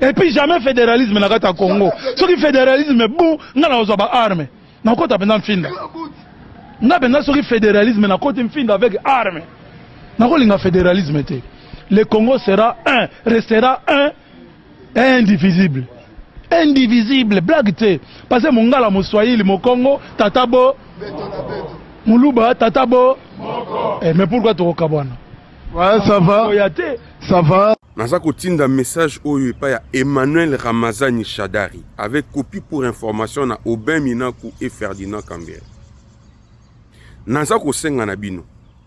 et puis jamais fédéralisme na kati ya congo soki fédéralisme bon nga na kozwa baarme nakokota mpenza mfinda nga mpenza soki fédéralisme nakoti mfinda avec arme nakolinga fédéralisme te le congo sera un restera un indivisible indivisible blague te pase mongala moswahili mokongo tata bo muluba tata bo eh, mais pourquoi tokokabwana ouais, ça va oya te ça va naza kotinda message oyo epai ya emmanuel ramazani shadari avec copie pour information na aubin minaku et ferdinand cambere naza kosenga na bino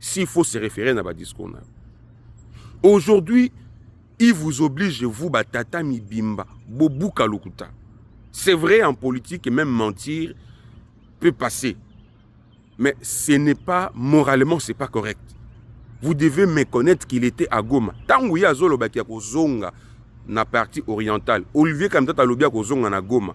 s'il faut se référer na ba discours na aujourd'hui il vous oblige vous batata mibimba bobuka lokuta c'est vrai en politique même mentir peut passer mais ce n'est pas moralement c'est pas correct vous devez me connaître qu'il était à Goma tango ye azolobaki ya kozonga na partie orientale olivier kamtata alobi ya kozonga na Goma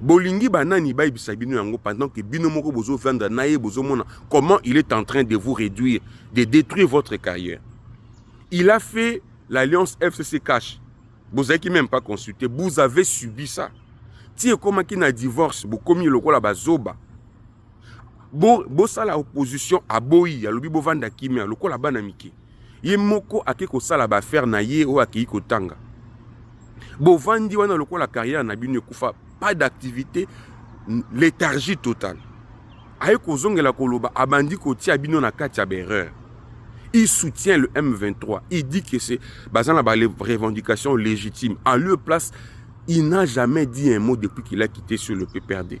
bolingi banani bayebisa bino yango pendant que bino moko bozo vendre na ye bozomona comment il est en train de vous réduire de détruire votre carrière il a fait l'alliance fcc cash bozalaki même pas consulté vous avez subi ça ti ekomaki na divorce bokomi lokola bazoba bo bosala opposition aboyi alobi bovanda kimia lokola bana mike ye moko ake kosala baaffaire na ye oyo akei kotanga bovandi wana lokola carrière na bino ekufa pas d'activité léthargie totale aye kozongela koloba abandi kotia bino na kati ya baerreur il soutient le M23 il dit que c'est baza na ba revendications légitimes en lieu place il n'a jamais dit un mot depuis qu'il a quitté sur le PPRD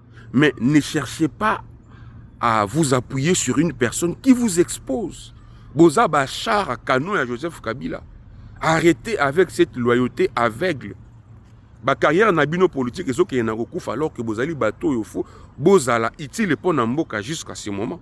Mais ne cherchez pas à vous appuyer sur une personne qui vous expose. Boza Bachar, canon à Joseph Kabila. Arrêtez avec cette loyauté aveugle. Ba carrière na bino politique ezo ke na alors que bozali bateau yo fo bozala utile pour na mboka jusqu'à ce moment.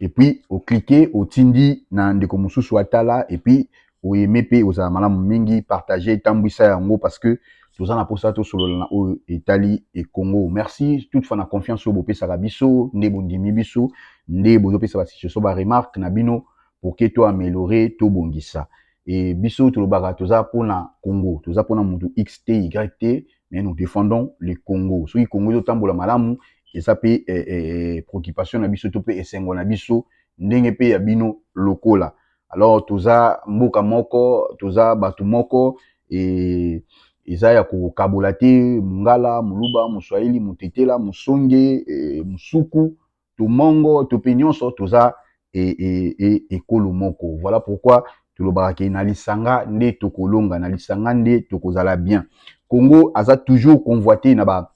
et puis o cliquer otindi na ndeko mosusu atala et puis oyeme mpe ekozala malamu mingi partage etambwisa yango parce que toza na mposa tosolola na oyo etali ekongo merci toute fois na confiance oyo bopesaka biso nde bondimi biso nde bozopesa basituation baremarque na bino pour que to améliorer tobongisa e biso tolobaka toza mpona congo toza mpona motu x te y te mais nous defendons le Congo soki Congo ezo tambola malamu eza pe eh, eh, eh, préoccupation na biso to pe esengo na biso ndenge pe ya bino lokola alors toza mboka moko toza bato moko et eza ya kokabola te mungala muluba moswahili motetela mosonge eh, mosuku to mongo to mpe nyonso toza e, e, e, ekolo moko voilà pourquoi tolobaka ke na lisanga nde tokolonga na lisanga nde tokozala bien congo aza toujours convoite na ba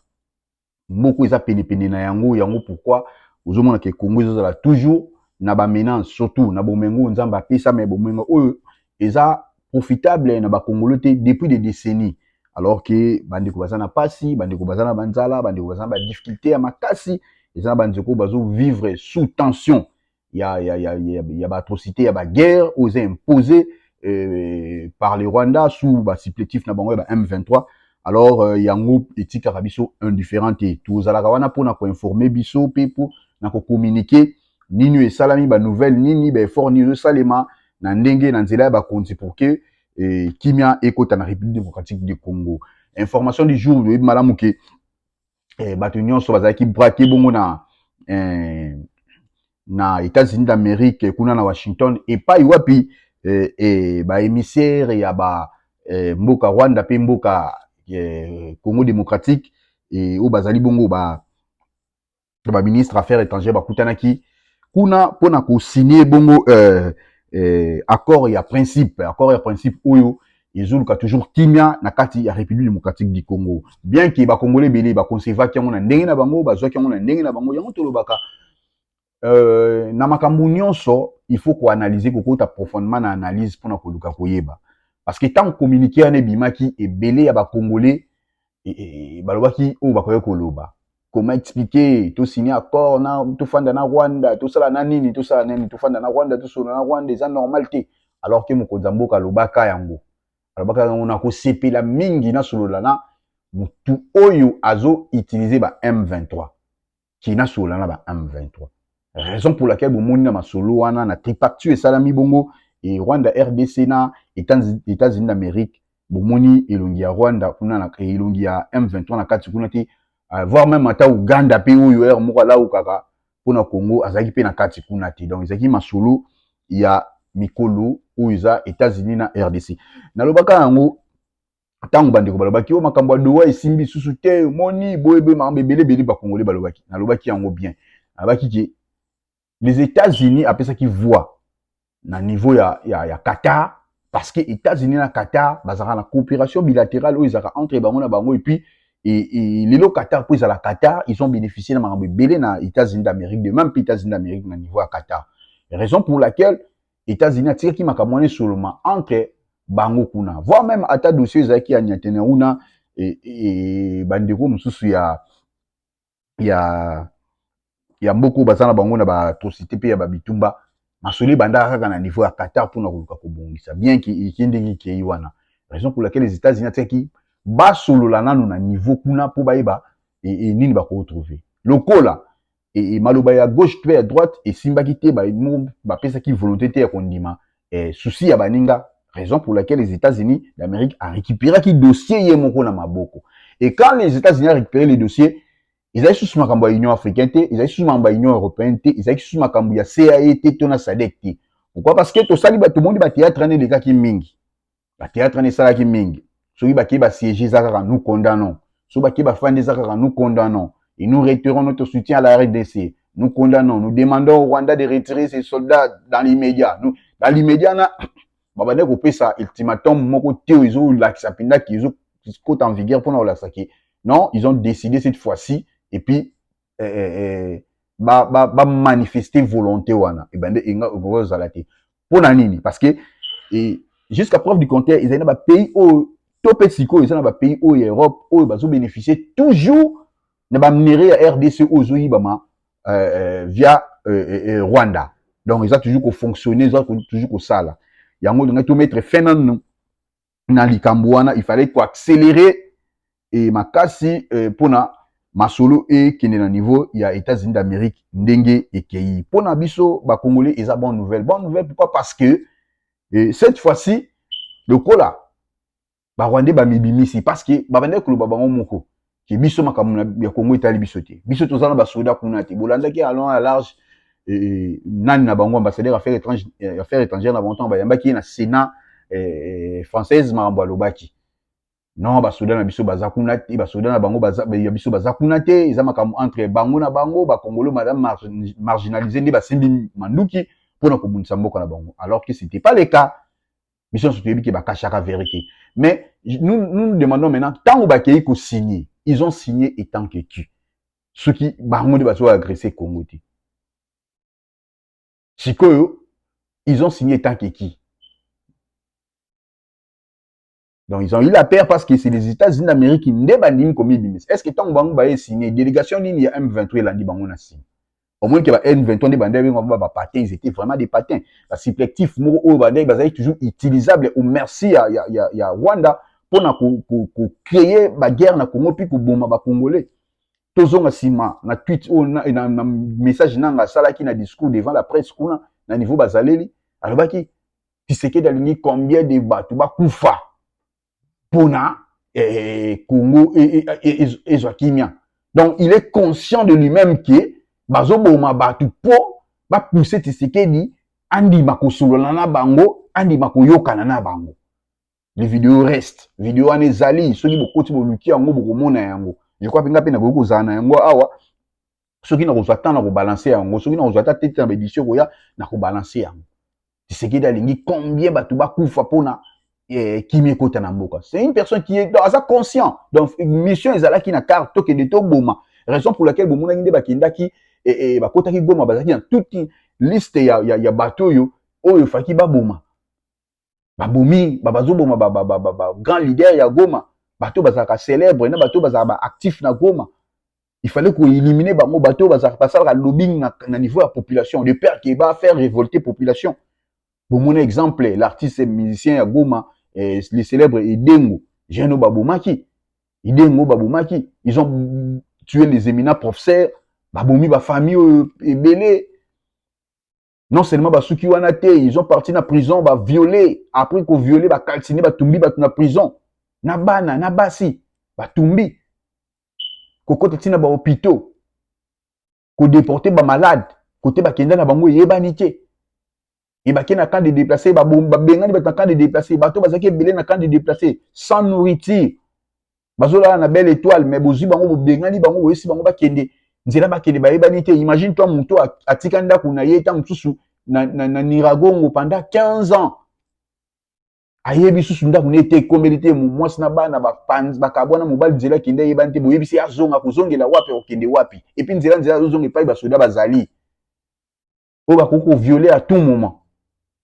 moko eza penepene na yango yango pourquoi ozomona ke congo ezozala toujours na bamena surtout na bomengo nzambe apesa me bomengo oyo eza profitable na ba congolais te depuis des décennies alors que bandeko baza na pasi bandeko baza na banzala bandeko baza na badifficulté ya makasi eza na banzeko bazo vivre sous tension ya, ya, ya, ya, ya baatrocité ya baguerre oyo eza impose euh, par le rwanda sous basupplétif na bango ya ba m23 alors euh, yango etikaka biso indifférent te tozalaka wana mpo na koinforme biso mpe mpo na kokommunike nini oyo esalami ba nouvelle nini ba effort nini ezosalema na ndenge na nzela ya bakonzi pour que eh, kimia ekota na république démocratique du congo information du jour oyebi malamu ke eh, bato nyonso bazalaki brake bongo na eh, na états-unis d'amérique kuna na washington epai wapi eh, eh, baémissaire ya ba eh, mboka rwanda mpe mboka eh, congo démocratique eh, oyo bazali bongo ba to ba ministre affaires étrangères bakutanaki kuna mpo na kosigne bongo euh, euh, accord ya principe accord ya principe oyo ezoluka toujours kimia na kati ya république démocratique du congo bien ke bakongole ebele bakonsevaki yango na ndenge na bango bazwaki yango na ndenge na bango yango tolobaka euh, na makambo nyonso il faut koanalyse kokota profondément na analyse mpo na koluka koyeba parce que ntango communiqué wana ebimaki ebele ya bakongole balobaki oyo bakoki koloba comment expliquer to signe accord na tofanda na Rwanda tosala na nini tosala na nini tofanda na Rwanda tosolo na Rwanda eza normal te alors que mokonzi ya mboka alobaka yango alobaka yango na kosepela mingi na solola na mutu oyo azo utiliser ba M23 ki nasolola na ba M23 raison pour laquelle bomoni na masolo wana na tripacture esalami bongo e Rwanda RDC na États-Unis d'Amérique bomoni elongi ya Rwanda kuna na elongi ya M23 na kati kuna te euh, voire même ata Uganda pe oyo heure moko alaukaka mpo na Congo azalaki mpe na kati kuna te donc ezalaki masolo ya mikolo oyo eza États-Unis na RDC nalobaka yango ntango bandeko balobaki o oh, makambo ya dowa esimbi susu te moni boyebe makambo ebele ebele bakongole balobaki nalobaki yango bien alobaki ke les états-unis apesaki voix na niveau ya, ya, ya qatar parce que états-unis na qatar bazalaka na coopération bilatérale oyo ezalaka entre bango na bango epuis lelo qatar mpo ezala qatar ils ont bénéficié na makambo ebele na états-unis d'amérique de même mpe états-unis d'amérique na niveau ya qatar raison pour laquelle Etats-Unis atikaki makambo wana esoloma entre bango kuna voire même ata dossier ezalaki ya nyatene kuna e, e, e, bandeko mosusu ya ya ya mboka oyo baza na bango na baatrocité mpe ya babitumba masolo ebandaka kaka na niveau ya qatar mpona koluka kobongisa bien ke eke ndenge ekei wana raison pour laquelle les états unis atiaki basolola nano na niveau kuna mpo bayeba e, e, nini bakoretrouve lokola e, e, maloba ya gauche mpe ya droite esimbaki te, bapesaki ba volonté te ya kondima e, souci ya baninga, raison pour laquelle les États-Unis d'Amérique a récupéré ki dossier ye moko na maboko. Et quand les États-Unis a récupéré les dossiers, ezalaki susu makambo ya Union africaine te, ezalaki susu makambo ya Union européenne te, ezalaki susu makambo ya CAE te to na SADC te. Pourquoi? Parce que tosali bato moni ba théâtre wana elekaki mingi. ba théâtre wana esalaki mingi soki bakei basiége eza kaka nous condamnons soki bakei bafandi eza kaka nous condamnons et nous réitérons notre soutien à la rdc nous condamnons nous demandons au rwanda de retirer ses soldats dans l'immédiat nous dans l'immédiat na babandaki kopesa ultimatum moko te oyo ezolakisa mpendaki ezokota en vigueur mpona kolakisa ke non ils ont décidé cette fois-ci et puis eh, eh, eh, ba, ba, ba manifester volonté wana ebande eh enga okozala te mpo na nini parce que eh, jusqu'à preuve du contraire ezali na bapays oyo to mpe sikoyo eza na bapays oyo ya europe oyo bazobénéficie toujours na bamere ya rdc oyo ezoyibama euh, euh, via euh, euh, euh, rwanda donc eza toujours kofonctionne eza toujours kosala yango olingaki tomettre fin nanu na likambo wana il fallait ko accélérer e makasi e, mpona masolo ekende na niveau ya États-Unis d'Amérique ndenge ekei. Mpona biso ba Congolais eza bonne nouvelle. Bonne nouvelle pourquoi? Parce que e, cette fois-ci lokola ba Rwandais bamibimisi parce que babandaki koloba bango moko ke biso makambo ya Congo etali biso te biso toza na basoda kuna te bolandaki alon ya large e, e, nani na bango ambassadeur ya affaire étrangère eh, affaire étrangère na bango ntango bayambaki ye na sénat eh, française makambo alobaki non basoda na biso baza kuna te basoda na bango ya biso baza kuna te eza makambo entre bango na bango bakongolo madame mar, marginalise nde basimbi manduki mpo na kobundisa mboka na bango alors que c'était pas le cas biso nyonso toyebi ke bakashaka vere te mais nous, nous demandons maintenant ntango bakei kosigne ils ont signé étant que tu soki bango nde bazo agresse congo te sikoyo ils ont signé étant que qui donc ils ont eu la paire parce que c'est les états-unis d'amérique nde bandimi komibimisa est ce que ntango bango baye signe délégation nini ya m23 elandi bango na signe omoni ke ba n23 nde bandaki benga ba bapate ils étaient vraiment des patins basiplektif moko oyo bandaki bazalaki toujours utilisable au merci ya, ya, ya, ya rwanda mpo na kocreye ko, ko baguerre na congo mpe koboma bacongolais tozonga nsima na tweet oyo na, na, na message nanga asalaki na discours devant la presse kuna na niveau bazaleli alobaki tisekedi alingi combien de bato bakufa pona eh, Congo eh, eh, ezwa kimia donc il est conscient de lui-même que bazoboma bato mpo bapuse Tshisekedi andima kosolola na bango andima koyokana na bango le video reste video wana ezali soki bokoti boluki yango bokomona yango je crois mpe ngai mpe nakoki kozala na yango awa soki nakozwa temps na kobalanse yango soki nakozwa ata tete na baedition ekoya na kobalanse yango tisekedi alingi combien bato bakufa mpona eh, kimi ekota na mboka c'est une personne qui est aza conscient donc mission ezalaki na carte tokende toboma raison pour laquelle bomonaki nde bakendaki eh, eh, bakotaki goma bazalaki na toute liste ya, ya, ya bato oyo oyo efaki baboma babomi bazoboma ba, ba, ba, ba, ba, grand leader ya goma bato bazalaka célèbre na bato bazalaka baactif na goma il fallait koélimine bango bato bazalaka basalaka lobbying na, na niveau ya population de père ke bafaire révolte population bomona exemple l'artiste musicien ya goma eh, le célèbre edengo jeno babomaki edengo babomaki ils ont tué les éminents professeurs babomi bafamille oyo ebele non seulement basuki wana te ils ont parti na prison baviole après koviole bakaltine batumbi bato na prison na bana na basi batumbi kokota ntina bahôpitaux kodeporte bamalade kote bakenda na bango eyebani te ebake na camp de déplacé babengani bato na camp de déplacé bato bazalaki ebele na camp de déplacé sans nourriture bazolala na belle étoile mais bozwi bango bobengani bango boyesi bango bakende nzela bakende bayebani te imagine toi moto atika ndako na ye ntango mosusu na, na, na niragongo pendant 15 ans ayebi susu ndako na ye te ekombeli te mwasi na bana bakabwana mobali nzela akende ayebani te boyebisi ye azonga kozongela wapi akokende wapi epuis nzela nzela azozonga epai basoda bazali oyo bakoki koviole à tout moment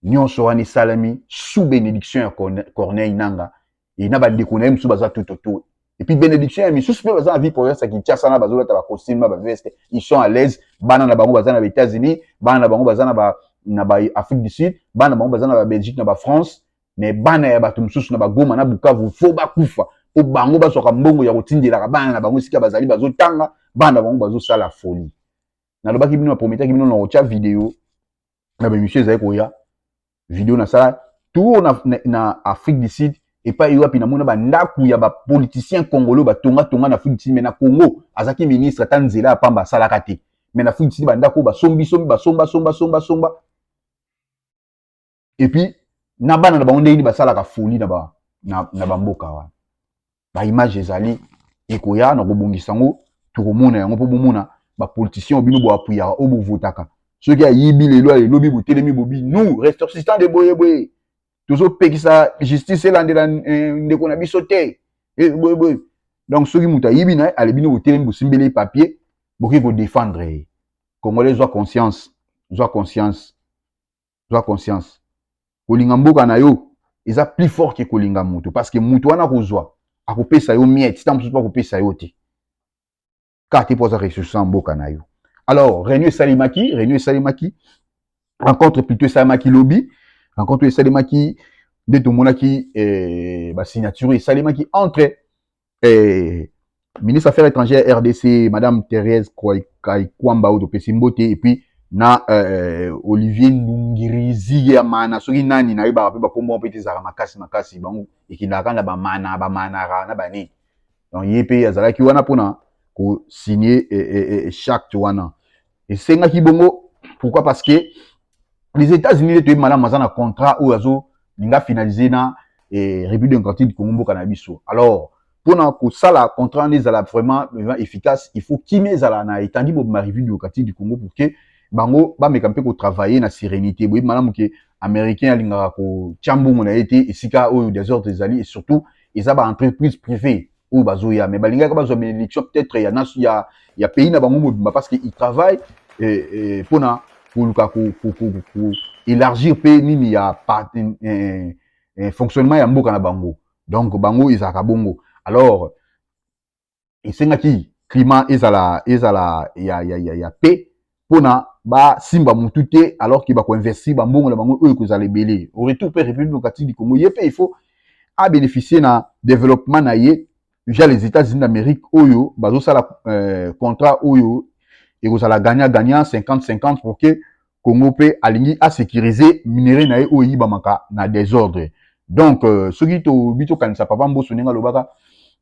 nyonso wana esalami sous bénédiction ya corneille nanga e na bandeko na ye mosusu baza tout autour epuis bénédiction ya misusu mpe baza na vie province ya kinshasa na bazolata bacostume na baveste ils sont à l'aise bana na bango baza na baétats-unis bana na bango baza na ba na ba afrique du sud bana na bango baza na babelgique na bafrance mais bana ya bato mosusu na bagoma na bukavu fo bakufa mpo bango bazwaka mbongo ya kotindelaka bana na bango esika bazali bazotanga bana na bango bazosala folie nalobaki bino naprometaki bino nakotya video na baemission ezali koya video nasala tour na, na, na afrique du sud epai wapi namona bandako ya bapoliticien congolais batongatonga na afrique du sud mai na congo azalaki ministre ata nzela ya pamba asalaka te mai na afrique du sud bandako oyo basombisombi basombasombasombasombasomba et puis na bana na bango ndenge nini basalaka folie na ba na, na bamboka wana baimage ezali ekoya na kobongisa yango tokomona yango mpo bomona bapoliticien obino boapuyaka oyo bovotaka soki ayibi lelo ya elobi botelemi bobi nous ressortissant de boyeboye tozopekisa justice elandela eh, ndeko na biso te eh, boyeboye donc soki moto ayibi na ye ale bino botelemi bosimbeli ye papier bokoki kodefendre ye congolais zwa conscience zwa conscience zwa conscience kolinga mboka na yo eza plus fort ke kolinga moto parce que moto wana akozwa akopesa yo miette ntango mosusu mpe akopesa yo te kaka te mpo aza ressource mboka na yo alors réunion esalemaki réunion esalemaki rencontre plutôt esalemaki lobi rencontre oyo esalemaki nde tomonaki eh, basignature esalemaki entre eh, ministre affaires étrangères ya rdc madame therese kaikwamba oyo topesi mbote epuis na eh, olivier ndungirizi ya mana soki nani nayebaka mpe bakombo yango mpe te ezalaka makasi makasi bango ekendaka kaka na bamana bamanara na banini donc ye mpe azalaki wana mpona kosigne eh, eh, eh, charte wana esengaki bongo pourquoi parce que les états-unis nde toyebi malamu aza na contrat oyo azolinga finalise na eh, république démocratique du congo mboka na biso alors mpo na kosala contrat wana ezala vraiment vraiment efficace il faut kimia ezala na etandi mobima république démocratique du congo pour que bango bameka mpe kotravaille na sérénité boyebi malamu ke américain alingaka kotya mbongo na ye te esika oyo desordre ezali et surtout eza baentreprise privé oyo bazoya mais balingaki bazwa benediction peut-être ya, ya, ya pays na bango mobimba parce que il travaille eh, eh, pona koluka koélargir mpe nini ya eh, eh, eh, fonctionnement ya mboka na bango donc bango ezalaka bongo alors esengaki climat ezala ezala ya, ya, ya, ya paix mpo na basimba mutu te alors ke bakoinvestir bambongo na bango oyo ekozala ebele au retour mpe république démocratique du congo ye mpe il faut abénéficie na développement na ye via les états-unis d'amérique oyo bazosala euh, contrat oyo ekozala gagnant gagnant 50 50 pour que congo mpe alingi asécurise minerai na ye oyo eyibamaka na désordre donc euh, soki tobi tokanisa papa mboso ndenge alobaka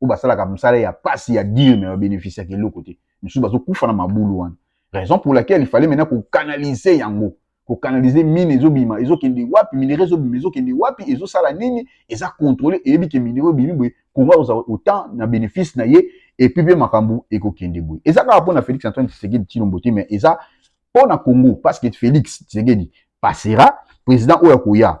oyo basalaka mosala ya pasi ya dire me babeneficiaka eloko te misusu bazokufa na mabulu wana raison pour laquelle ifale mena kokanalize yango kokanalize mine ezobima ezokende wapi minere ezobima ezokende wapi ezosala nini eza kontrole eyebi ke minere obimi boye kongo akozala autant na benefice na ye epuis mpe makambo ekokende boye eza kaka mpo na félix antoine tshisekedi tshilombo te mais eza mpo na congo parce que félix tshisekedi passera président oyo akoya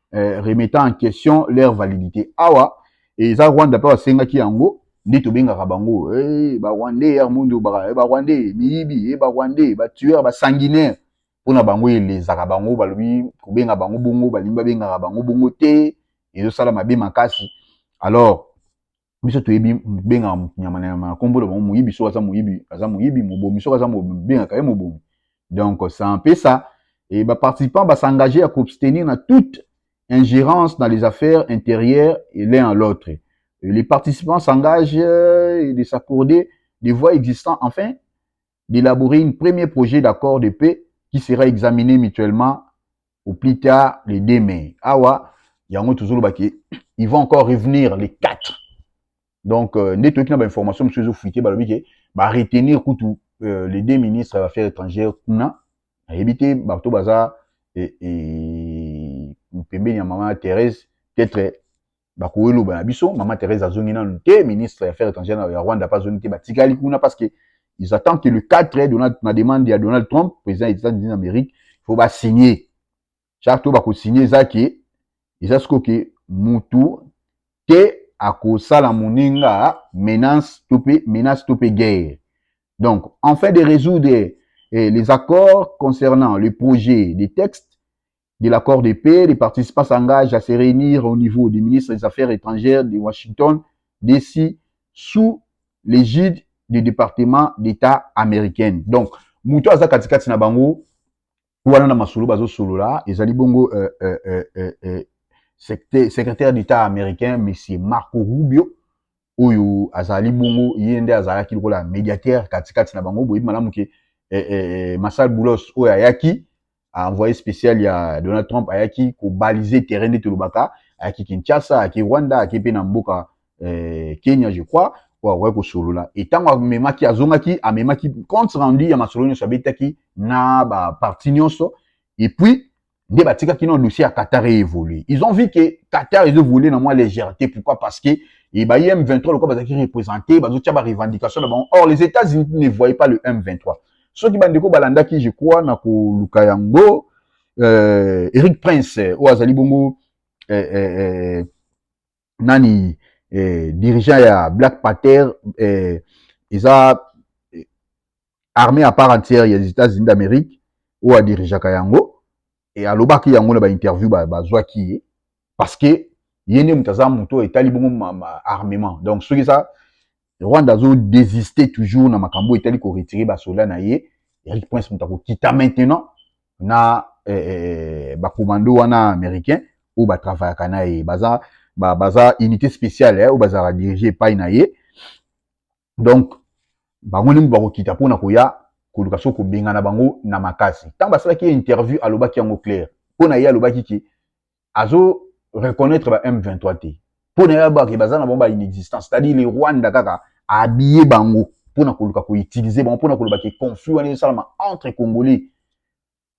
eh, remettant en question leur validité awa eza rwanda mpe basengaki yango nde tobengaka bango hey, eh, barwandais ya mondo baka eh, barwandais miyibi hey, eh, barwandais batueur basanguinaire mpo na bango elezaka bango balobi kobenga bango bongo balingi babengaka bango bongo te ezosala mabe makasi alors biso toyebi bengaka moto nyama na nyama na nkombo na bango moyibi soki aza moyibi aza moyibi mobomi soki aza mobomi bengaka ye mobomi donc ça empesa e baparticipant basengage ya koabstenir na toute ingérence dans les affaires intérieures et l'un à l'autre les participants s'engagent euh, de s'accorder des voies existantes enfin d'élaborer une premier projet d'accord de paix qui sera examiné mutuellement au plus tard le 2 mai. Awa, yango tozoloba ke, ils vont encore revenir les 4. Donc, euh, nde toyoki na bainformation mosusu ezofuite balobi ke baretenir kutu euh, les deux ministres ya affaires étrangères kuna nayebi te bato baza e, e, pembeni ya mama Therese peut-être bakoki loba na biso mama Therese azongi nanu te ministre ya affaires étrangères ya Rwanda pa azongi te batikali kuna parce que ils attendent que le 4 Donald na demande ya Donald Trump président des États-Unis d'Amérique faut ba signer charte oyo bako signer eza ke eza siko ke mutu te akosala moninga menace to pe menace to pe guerre donc en fait de résoudre eh, les accords concernant le projet des textes de l'accord de paix, les participants s'engagent à se réunir au niveau du ministre des Affaires étrangères de Washington, DC, sous l'égide du département d'État américain. Donc, mutu aza katikati na bango wana na masolo bazosolola ezali bongo euh, euh, euh, euh, euh, secte- secrétaire d'état américain monsieur marco rubio oyo azali bongo ye nde azalaki lokola médiateur katikati na bango boyebi malamu ke eh, eh, eh, masal boulos oyo ayaki envoyé spécial ya Donald Trump ayaki ko baliser terrain nde tolobaka ayaki Kinshasa ayaki Rwanda ayaki mpe na mboka eh, Kenya je crois oyo akoki kosolola e ntango amemaki azongaki amemaki compte rendu ya masolo nyonso abetaki na baparti nyonso et puis nde batikaki na dossier ya Qatar evolue ils ont vu que Qatar ezo voler na mwa légèreté pourquoi parce que et bah, M23, le quoi, bah, représenté, bah, revendications, bah, or, les États-Unis ne voyaient pas le M23. soki bandeko balandaki je crois na koluka yango euh, eric prince euh, oyo azali bongo euh, euh, euh, nani euh, dirigeant ya black pater euh, eza euh, armée à part entière ya états-unis d'amérique oyo adirigeaka yango e, alobaki yango na ba interview ba bazwaki ye parce que ye nde moto aza moto etali bongo ma, ma armement donc soki eza Rwanda azo desister toujours na makambo etali ko retirer ba soldats na ye Eric Prince moto akokita maintenant na eh, eh, ba commando wana américain oyo ba travaillaka na ye baza ba, baza unité spéciale eh, oyo bazalaka dirige epai na ye donc bango nde bakokita mpo na koya koluka so kobengana bango na makasi ntango basalaki ye interview alobaki yango claire mpo na ye alobaki ke azo reconnaître ba m23 te mpo na ye abake baza na bango ba inexistence c'est-à-dire le rwanda kaka abiye bango mpo na koluka koutilize bango mpo na koloba ke conflit wana ezosalama entre congolais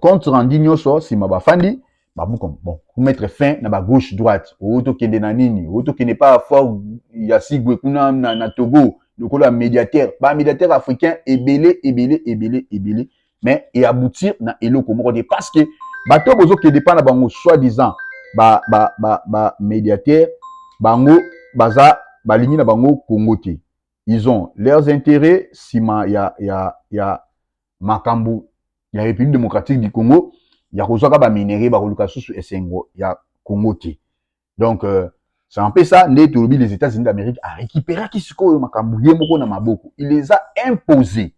compte rendu nyonso nsima bafandi babuka bon komettre fin na bagauche droite oyo tokende na nini oyo tokende pa fort ya sigwe kuna na, na togo lokola médiateur bamédiateur africain ebele ebele ebele ebele mais eaboutir na eloko moko te parce que bato oyo bozokende mpa na bango soit disant bamédiateur ba, ba bango baza balingi na bango kongo te ils ont leurs intérêts nsima ya, ya, ya makambo ya République démocratique du Congo ya kozwaka ba minerais bakoluka lisusu esengo ya Congo te donc euh, c'est un peu ça nde tolobi les États-Unis d'Amérique a récupéraki sikoyo makambo ye moko na maboko il les a imposé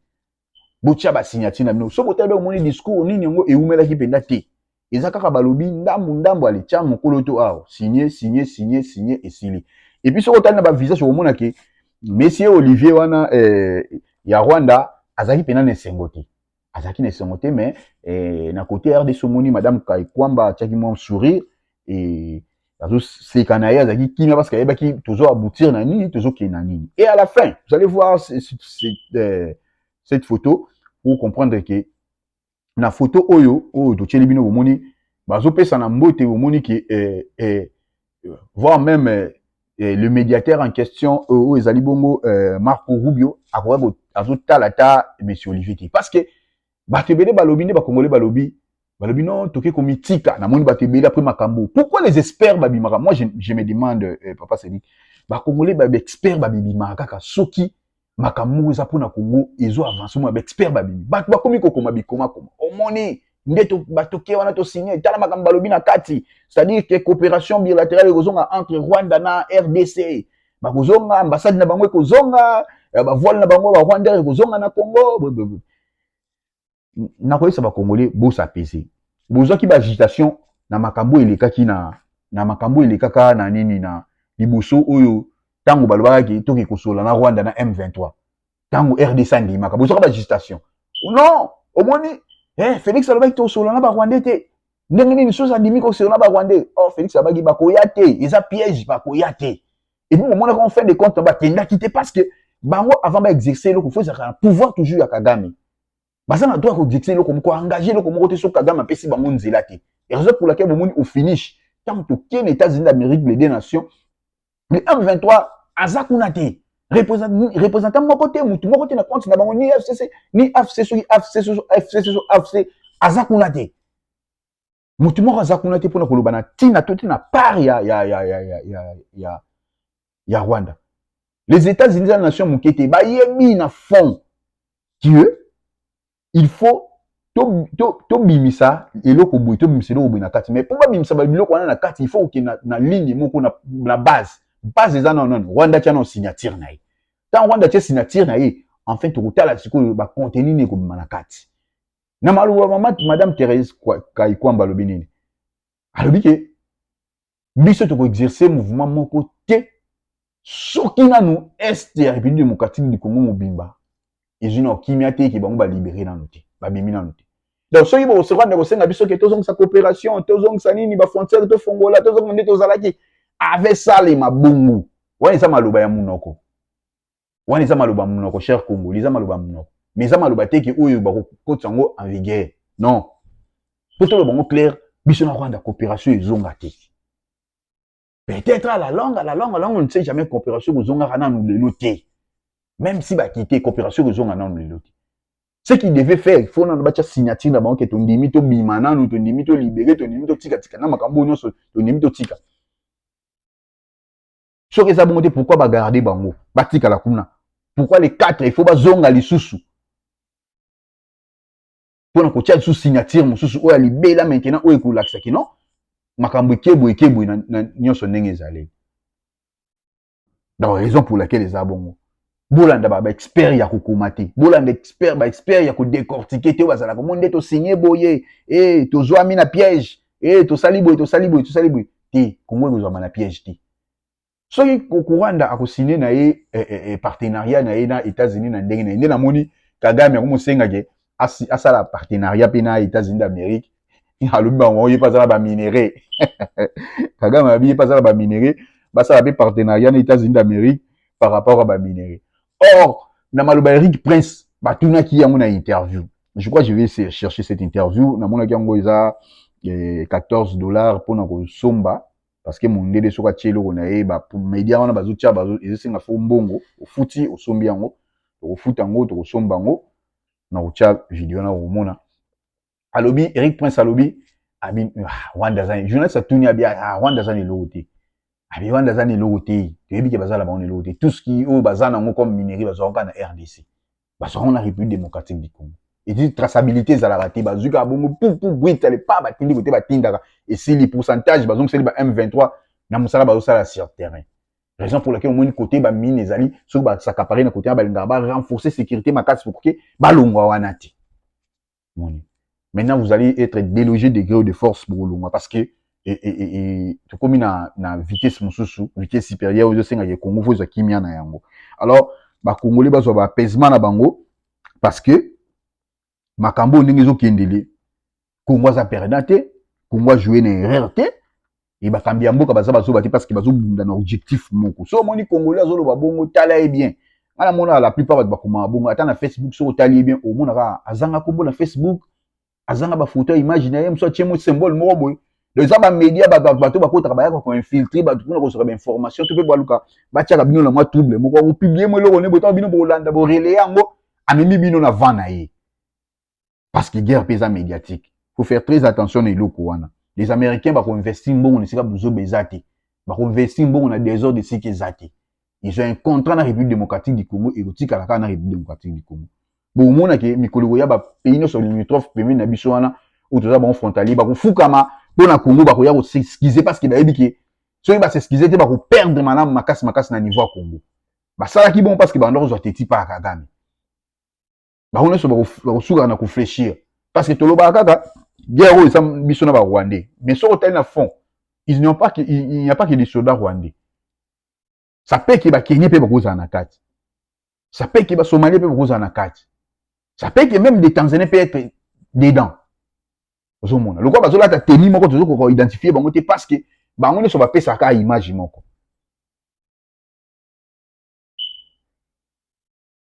botya basignature na bino so botali omoni discours nini yango eumelaki mpenza te eza kaka balobi ndambu ndambu ale tia mokolo to awa signe signe signe signe esili epuis soki otali na bavisage okomona ke monsieur olivier wana eh, ya rwanda azalaki mpena na esengo te azalaki na esengo te mais eh, na kote ya rdc omoni madame kaikwamba atiaki mwa sourire eh, azoseka na ye azalaki kimia parce que ayebaki tozo aboutir na nini tozokende na nini et à la fin vous allez voir cette, cette, euh, cette photo pour comprendre que na foto oyo oyo totyeli bino bomoni bazopesana mbote bomoni ke eh, eh, voire même eh, eh le médiateur en question euh, oyo ezali bongo eh, marco rubio akoka azotala ata monsieur olivier te parce que bato ebele balobi nde bakongole balobi balobi non toke komitika namoni bato ebele après makambo pourquoi les experts babimaka moi je, je me demande eh, papa seli bakongole baexpert babibimaka kaka soki makambo moko eza mpona congo ezo avance mona baexpert babimi bato bakomi kokoma bikomakoma omoni nde batoke wana tosigne tala makambo balobi na kati c'est-à-dire que coopération bilatérale ekozonga entre rwanda na rdc bakozonga ambassade na bango ekozonga eh, bavoile na bango barwandais ekozonga na congo nakoyebisa bacongolais bosapese bozwaki baagitation na makambo elekaki na na makambo elekaka na nini na liboso oyo ntango balobaka ke toke kosola na rwanda na m23 ntango rdc andimaka bozwaka baagitation non omoni eh, felix alobaki tosola na barwandais te ndenge nini soki andimi kosola na barwandais or oh, felix abaki bakoya te eza piège bakoya te epuis bomonaka en fin de compte bakendaki te parce que bango avant baexerce eloko fo ezalaka na pouvoir toujours ya kagame baza na droit ya kodikse eloko moko engage eloko moko te soki kagame apesi bango nzela te raison pour laquelle bomoni au finish ntango tokei na états-unis d'amérique les deux nations le m23 aza kuna te représentant moko te motu moko te na compte na bango ni fcc ni afc soki afc soki fc soki afc aza kuna te motu moko aza kuna te mpona koloba na ntina to te na part ya, ya, ya, ya, ya, ya, ya, ya rwanda les états-unis eza nation moke te bayebi na fond que il faut tobimisa eloko boye tobimisa eloko boye na kati mais mpo babimisa babiloko wana na kati il faut oke na, na ligne moko na, na base base eza nano nani rwanda tya nao signature na ye ntango rwanda tya signature na ye enfin tokotala sikoyo bacontenu nini ekobima na kati na maloba mama madame Therese Kaikwamba alobi nini alobi ke biso tokoexerce mouvement moko te soki nanu est ya république démocratique du congo mobimba ezwi na kimia te eke bango balibere nanu te babimi nanu te donc soki bokosoka nde kosenga biso ke tozongisa coopération tozongisa nini bafrontière tofongola tozonga nde tozalaki avesalema bongo wana eza maloba ya monoko wana eza maloba monoko cher congo eza maloba monoko mais eza maloba te ke oyo bakokotisa yango en vigueur non mpo toloba yango claire biso na rwanda coopération ezonga te peut-être à la langue à la langue à la langue on ne sait jamais coopération ekozongaka nanu lelo te même si bakite coopération ekozonga nanu lelo te ce qui devait faire faut nanu batya signature na bango ke tondimi tobima nanu tondimi tolibere tondimi totikatika na makambo oyo nyonso tondimi totika soki eza bongo te pourquoi bagarde bango batikala kuna pourquoi les quatre il faut bazonga lisusu mpo na kotya lisusu signature mosusu oyo ya libela maintenant oyo ekolakisa kino makambo ekebwe ekebwe na nyonso ndenge ezali donc raison pour laquelle eza bongo bolanda ba expert ya kokoma te bolanda expert ba expert ya kodecortike te oyo bazalaka mo nde tosigne boye e tozwami na piège e tosali boye tosali boye tosali boye te kongo ekozwama na piège te soki kokuranda akosigne na ye eh, eh, eh, partenariat na ye na états-unis na ndenge na ye nde namoni kagame akomosengake asi asala partenariat mpe na États-Unis d'Amérique alobi bango ye mpe aza na baminerais kagame alobi ye mpe aza na baminerais basala mpe partenariat na États-Unis d'Amérique par rapport ya baminerais or na maloba Eric Prince batunaki yango na interview je crois je vais chercher cette interview namonaki yango eza eh, 14 dollars mpona kosomba parce que mondele soki atie eloko na ye bamedia wana bazotia bazo, ezosenga fo mbongo ofuti osombi yango tokofuta yango tokosomba yango na kotia video na komona alobi eric prince alobi abi ah, rwanda aza journaliste atuni abi ah, rwanda aza na eloko te abi rwanda aza na eloko te toyebi ke bazala bango na eloko te tout ce qui oyo baza nango comme minerie bazwaka kaka na rdc bazwaka yango na république démocratique du congo edi traçabilité ezalaka te bazwi kaka bongo pupu bwita lepa batindi kote batindaka esili pourcentage bazongiseli ba m23 na mosala bazosala sur terrain raison pour laquelle omoni kote bamine ezali soki basakapare na kote wana balingaka barenforce sécurité makasi pour ke balongwa wana te moni maintenant vous allez être délogé de gré de force bokolongwa parce que e, e, e, tokomi na, na vitesse mosusu vitesse supérieure ezosengaka ekongo fo ezwa kimia na yango alors bakongoli bazwa baapaisement na bango parce que makambo oyo ndenge ezokendele kongo aza perda te kongo ajoue na erreur te e bakambi ya mboka baza bazoba te parce que bazobunda na objectif moko so omoni congolais azoloba bongo tala ye bien ngai namonaka la plupart bato bakomaka bongo ata na facebook soki otali ye bien omonaka azanga kombo na facebook azanga bafoto ya image na ye mosu atye mo symbole moko boye donc eza bamedia bato bato bakotaka bayaka koinfiltre bato mpona kosoka bainformation to mpe baluka batiaka bino na mwa trouble moko akopiblie mo eloko ne botaka bino bolanda borele yango amemi bino na van na ye parce que guerre mpe eza médiatique faut faire très attention na eloko wana les américains bakoinvesti mbongo na esika buzoba eza te bakoinvesti mbongo na desordre esika eza te ils ont un contrat na république démocratique du congo ekotikala kaka na république démocratique du congo bokomona ke mikolo ekoya bapays nyonso limitrophe pembeni na biso wana oyo toza bango frontalier bakofukama mpo na congo bakoya koseskize parce que bayebi ke soki baseskize te bakoperdre malamu makasi makasi na niveau ya congo basalaki bongo parce que bandoko zwa teti mpa ya kagame bango nyonso bakosukaka na koflechir parce que tolobaka kaka guerre oyo eza biso na barwandais mais soki otali na fond il n'y a pas que des soldats rwandais ça peut ke bakenie mpe bakozala na kati ça peut ke basomalie mpe bakozala na kati ça peut ke même des tanzaniens peut être dedans ozomona lokola bazolata teni moko tozokoka identifie bango te parce que bango nyonso bapesaka image moko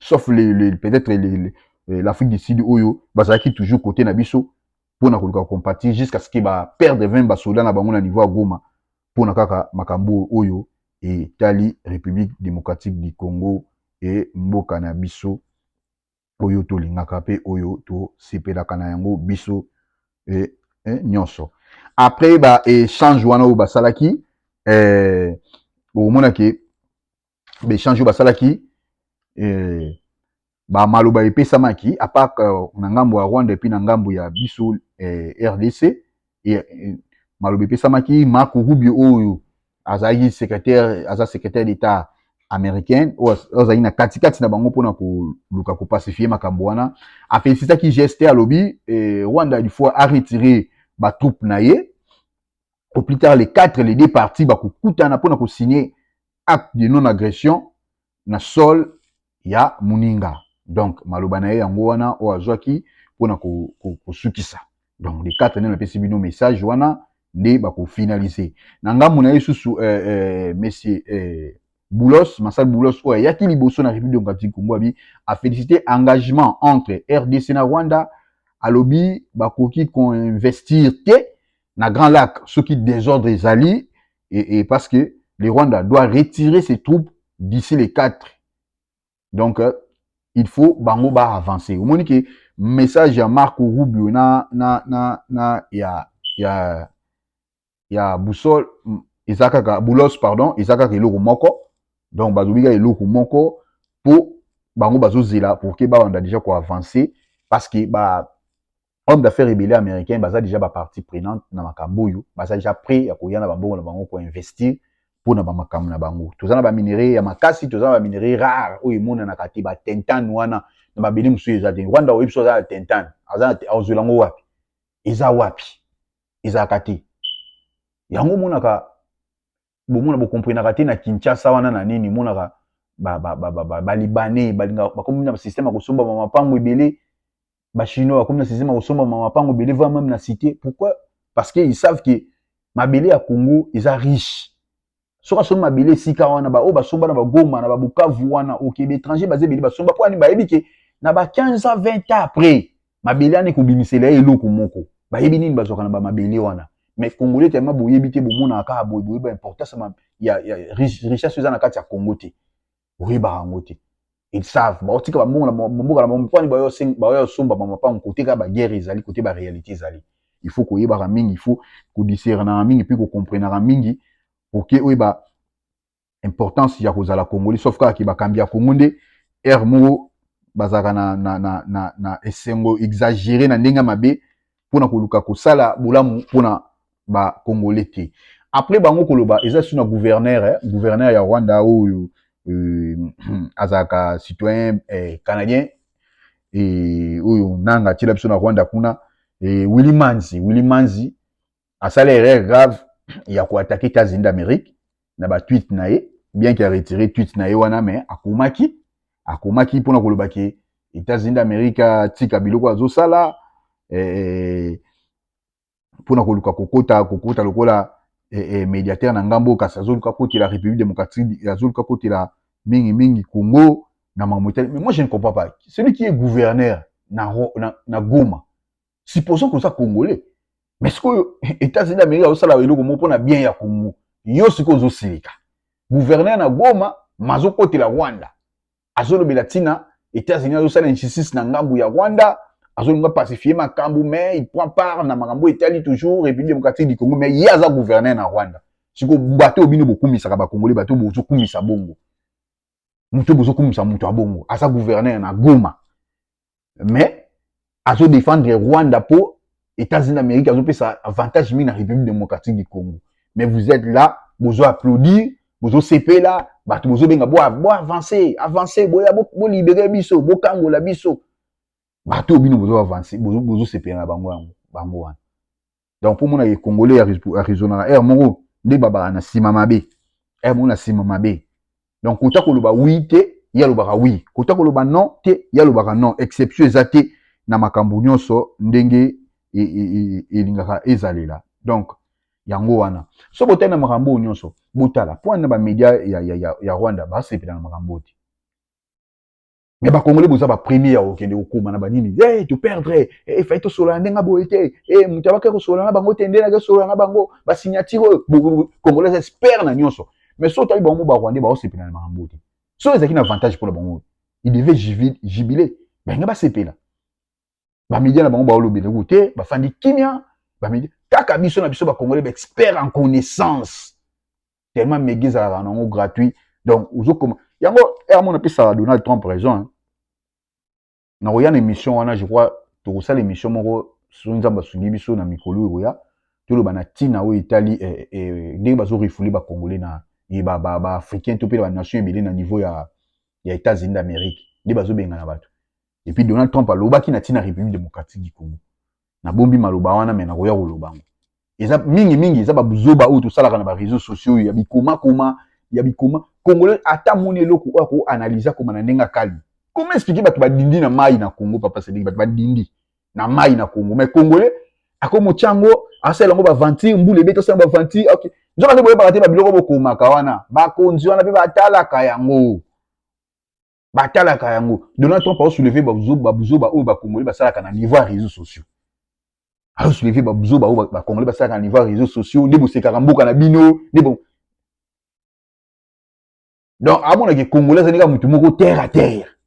sauf le, le, peut-être euh, l'Afrique du Sud oyo bazalaki toujours côté na biso mpo na koluka compatir jusqu'à ce que ba perdre 20 basoda na bango na niveau ya Goma mpo na kaka makambo oyo etali République démocratique du Congo e mboka na biso oyo tolingaka mpe oyo tosepelaka na yango biso e, e, nyonso après ba échange wana oyo basalaki eh, omonake ba échange oyo basalaki eh, ba maloba epesamaki à part euh, na ngambo ya Rwanda et puis na ngambo ya biso eh, RDC et, eh, maloba epesamaki Marco Rubio oyo azalaki secrétaire aza secrétaire d'État américaine oyo azalaki na katikati na bango mpona koluka kopacifie makambo wana afelisitaki geste alobi eh, rwanda du fois aretire batroupe na ye au plus tard les quatre les deux parties bakokutana mpona kosigne acte de non agression na sol ya muninga donc maloba na ye yango wana oyo azwaki mpona kosukisa ko, ko donc le 4 nde napesi bino message wana nde bakofinalise na ngambo na ye susu eh, eh, monsieur eh, Boulos, Masal Boulos oyo ayaki liboso na République démocratique Congo abi a félicité engagement entre RDC na Rwanda alobi bakoki koinvestir te na Grand Lac soki désordre ezali et, et parce que le Rwanda doit retirer ses troupes d'ici les 4. Donc, euh, il faut bango ba avancer. Au moins que message à Marco Rubio na na na na ya ya ya boussole ezakaka boulos pardon ezakaka eloko moko donc bazobika eloko moko po bango bazozela pour que bawanda déjà ko avancer parce que ba homme d'affaires ebele américain baza déjà ba partie prenante na makambo oyo baza déjà prêt ya koya na bambongo na bango ko investir mpo na bamakambo na bango toza na baminerai ya makasi toza na baminerai rare oyo emonanaka te batentane wana na mabele mosusu eza te rwanda oyebi so aza na tentane azwela yango wapi eza wapi ezalaka te yango omonaka bomona bokomprenaka te na kinshasa wana na nini monaka balibane balinga bakomi na système ya kosomba bamapango ebele bachinois bakomi na système ya kosomba bamapango ebele voi meme na cité pourquoi parce que ils savent que mabele ya congo eza riche soki asombi mabele esika wana baoyo basomba na bagoma na babukavu wana oke baétranger baza ebele basomba mpo ani bayebi ke na ba 15 a 20 ans après mabele wana ekobimisela ye eloko moko bayebi nini bazwaka na bamabele wana mais congolais tellement boyebi te bomonaka kaka boye boyeba importance ya, ya richesse eza na kati ya congo te boyebaka yango te ils savent baotika bambongo na mboka na bango mpani baoya osomba bamapango kote kaka baguerre ezali kote baréalité ezali il faut koyebaka mingi il faut kodiscernaka mingi mpe kocomprenaka mingi poke oyeba importance ya kozala congolais sauf kaka ke bakambi ya congo nde heure moko bazalaka na, na, na, na, na esengo exagere na ndenge mabe mpona koluka kosala bolamu mpona bacongolais te après bango koloba eza su na gouverneur eh, gouverneur ya rwanda oyo euh, azalaka citoyen eh, canadien eh, oyo nanga atiela biso na rwanda kuna eh, willy manzi willy manzi asala erreur grave ya ko attaquer États-Unis d'Amérique na ba tweet na ye bien qu'il a retiré tweet na ye wana mais akomaki akomaki pona koloba ke États-Unis d'Amérique atika biloko azosala eh, pona koluka kokota kokota lokola eh, eh, médiateur na ngambo kasi azoluka kotela République démocratique azoluka kotela mingi mingi Congo na makambo etali mais moi je ne comprends pas celui qui est gouverneur na, na, na Goma supposons que oza congolais mais sikoyo états-unis d'amérique azosala eloko moko mpo na bien ya congo yo sikoyo ozosilika gouverneur na goma mazokotela rwanda azolobela ntina états-unis azosala injustice na ngambo ya rwanda azolinga pacifie makambo mais il prend part na makambo etali toujours république démocratique du congo mais ye aza gouverneur na rwanda sikoyo bato oyo bino bokumisaka bakongole bato oyo bozokumisa bongo moto oyo bozokumisa moto ya bongo aza gouverneur na goma mais azo défendre Rwanda po États-Unis d'Amérique azo pesa avantage mingi na République démocratique du Congo mais vous êtes là bozo applaudir bozo sepela bato bozo benga bo bo avancer avancer boya bo, bo libérer biso bo kangola biso bato bino bozo avancer bozo bozo sepela na bango yango bango wana donc mpo omonaka congolais arizonaka heure moko nde babaka na nsima mabe heure moko na nsima mabe donc kota koloba wi te ye alobaka wi kota koloba non te ye alobaka non exception eza te na makambo nyonso ndenge e, e, e, elingaka ezalela donc yango wana so botali na makambo oyo nyonso botala mpo na bamedia ya, ya, ya, ya rwanda basepela na makambo oyo te mais bakongole boza bapremier ya kokende kokoma na banini e toperdre efai tosolola ndenge ya boye te e moto abaki kosolola na bango te nde nake kosolola na bango basignature oyo kongole aza expert na nyonso mais so otali bango barwandais baosepela na makambo te so ezalaki na avantage mpo na bango il devait jubile balinga basepela bamedia na bango baolobela yango te bafandi kimia bamedia kaka biso na biso bakongole baexpert en connaissance tellement mega ezalaka na yango gratuit donc ozokoma yango yango napesaka donald trump raison hein. nakoya na émission wana je crois tokosala émission moko soki nzambe asungi biso na mikolo oyo ekoya toloba na ntina oyo etali eh, eh, ndenge bazorefule bacongolais na eh, baafricain to mpe na banation ebele na niveau ya, ya états-unis d'amérique nde bazobengana bato epuis donald trump alobaki na ntina république démocratique du congo nabombi maloba wana me nakoya koloba yango eza mingi mingi eza babuzoba oyo tosalaka na bareseau sociaux ya bikomakoma ya bikoma congolais ata moni eloko oyo akoanalyse akoma na ndenge akali koma explike bato badindi na mai na congo papa sediki bato badindi na mai na congo mai congolais akomotya yango asala yango baventure mbula ebeti asala yango baventure okay. nzoka nde boyebaka te babiloko bokomaka wana bakonzi wana mpe batalaka yango batalaka yango donald trump aosouleve babuzoba oyo bakongole basalaka na niveau ya réseau sociaux aosouleve babuzoba oyo bakongole basalaka na niveau ya réseau sociaux nde bosekaka mboka na bino nde bo donc amonake congolais azali kaka motu moko terre à terre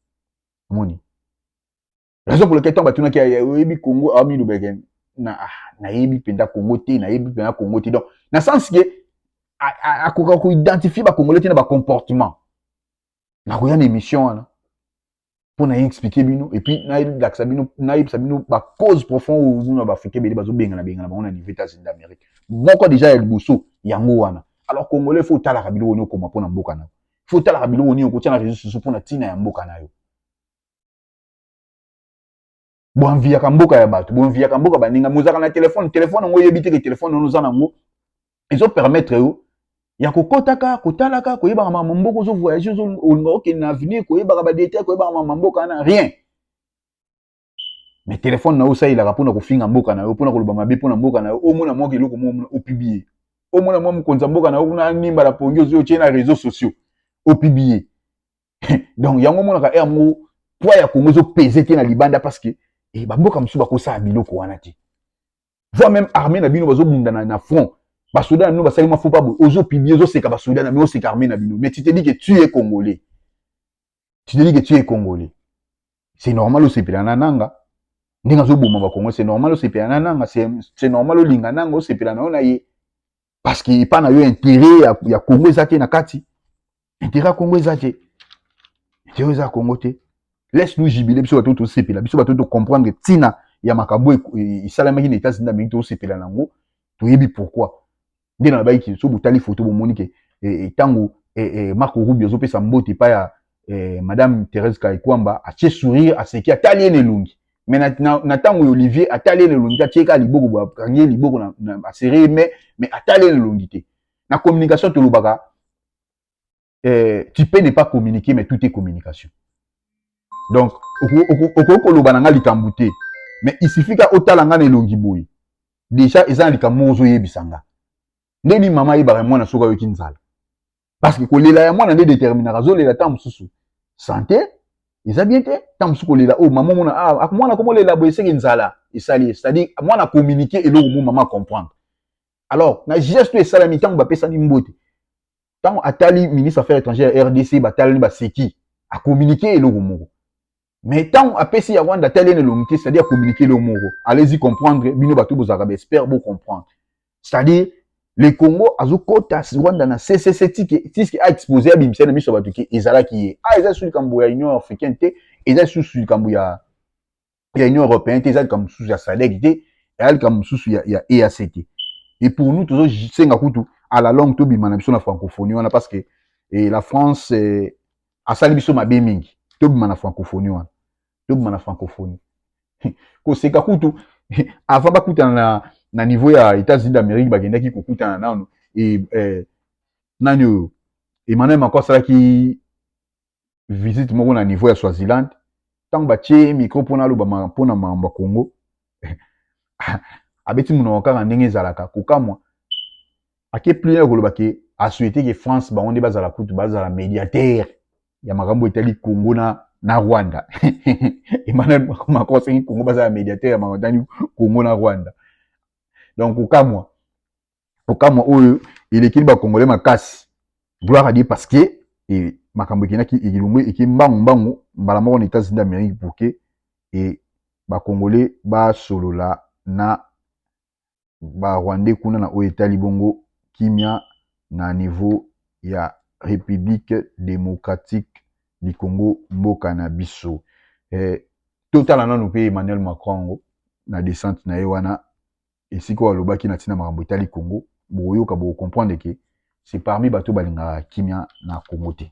omoni raison pour laquelle ntango batunaki ya oyebi congo amilobeke ah, na ah, nayebi mpenza congo te nayebi mpenza congo te donc na sens ke akoka koidentifie bacongolais te na bacomportement nakoya na émission wana mpo na explike bino epuis nalakisa bino nayebisa bino bacause profond oyo kuna baafrika ebele bazobengana bengana bango na niveau états-unis d'amérique moko déjà ya liboso yango wana alors congolais fo otalaka biloko nini okoma mpo na mboka na yo fo otalaka biloko nini okotia na réseau soso mpo na ntina ya mboka na yo boanviyaka mboka ya bato boanviyaka mboka baninga mozalaka na telefone telefone yango oyebi te ke telefone wana oza nango ezopermettre yo ya kokotaka kotalaka koyebaka makambo mboka ozo voyage olinga okende na avenir koyebaka badetail koyebaka makambo mboka wana rien mais telefone na yo osalelaka mpona kofinga mboka na yo mpona koloba mabe mpona mboka na yo omona mwaka eloko mo opibie omona mwa mokonzi ya mboka na yo kuna animba na pongi ozwi otye na réseau sociaux opibie donc yango omonaka heure moko poids ya congo ezopese te na libanda parce que eh, bamboka mosusu bakosala biloko wana te voi même armée na bino bazobunda na, na front basoda na bino basali mwa fopa boye ozopiblie ozoseka basoda na bino oseka armée na bino mais tu te dis que tu es congolais tu te dis que tu es congolais c'est normal osepela na nanga ndenge azoboma bakongo c'est normal osepela na nanga c'est normal olinga nanga osepela na yo na ye parce que epa na yo intérêt ya, ya congo eza te na kati intérêt ya congo eza te intérêt eza ya congo te laisse nous jubile biso bato tosepela biso bato tocomprendre ntina ya makambo esalamaki na états-unis d'amérique tosepela na yango toyebi pourquoi nde nalobaki ke so botali foto bomoni ke ntango e, e, e, marco rubio azopesa mbote epai ya eh, madame Therese Kayikwamba atie sourire aseki atali ye na elongi me na ntango ya Olivier atali ye na elongi te atie kaka liboko boye akangi ye liboko na, na asere ye me me atali ye na elongi te na communication tolobaka eh, tu peux ne pas communiquer mais tout est communication donc okoki koloba na ngai likambo te mais il suffit ka otala ngai na elongi boye deja eza na likambo moko ozoyebisa ngai ndeni mama ayebaka mwana soki ayoki nzala parce que kolela ya mwana nde determinaka azolela ntango mosusu sante eza bien te ntango mosusu kolela oyo oh, mama omona ah, ah, mwana komolela boye eseke nzala esali ye c'est-à-dire mwana communique eloko mo mama comprendre alors na geste oyo esalami ntango bapesani mbote ntango atali ministre affaire étrangère ya rdc batalani baseki akommunike eloko moko mais ntango apesi ya rwanda atali ene elongi te c'est-à-dire communique eloko moko allez-y comprendre bino bato bozalaka baespère bocomprendre c'est-à-dire le congo azokota rwanda na ccc tiske aexpose abimisa na miso ya bato ke ezalaki ye a ah, eza lisusu likambo ya union africaine te eza lisusu likambo ya ya union européenne te eza likambo mosusu ya sadek te eza likambo mosusu ya, ya eac te et pour nous tozosenga kutu à la longue tobima na biso na francophonie wana parce que eh, la france eh, asali biso mabe mingi tobima na francophonie wana tobima na francophonie koseka kutu avant bakutana na, na niveau ya états-unis d'amérique bakendaki kokutana nano e, eh, nani oyo emmanuel macron asalaki visite moko na niveau ya swaziland ntango batye micro mpo naloba mpo na makambo ya congo abeti monoko kaka ndenge ezalaka kokamwa ake plus ya koloba ke asuete ke france bango nde bazala kutu bazala mediateur ya makambo etali congo na na rwanda emmanuel macron asengi congo bazala mediateur ya makambo etali congo na rwanda donc kokamwa kokamwa oyo elekeli bakongole makasi gloire adie parce que e, makambo ekendaki elongo eke mbangu mbangu mbala moko na etats-unis d'amérique pour ke e, bakongole basolola na ba rwandais kuna na oyo etali bongo kimia na niveau ya Republique democratique du Congo mboka na biso eh, totala nanu mpe Emmanuel Macron yango na descente na ye wana esika oyo alobaki na ntina makambo etali Congo, bokoyoka boko comprendre ke c'est parmi bato balingaka kimia na Congo te.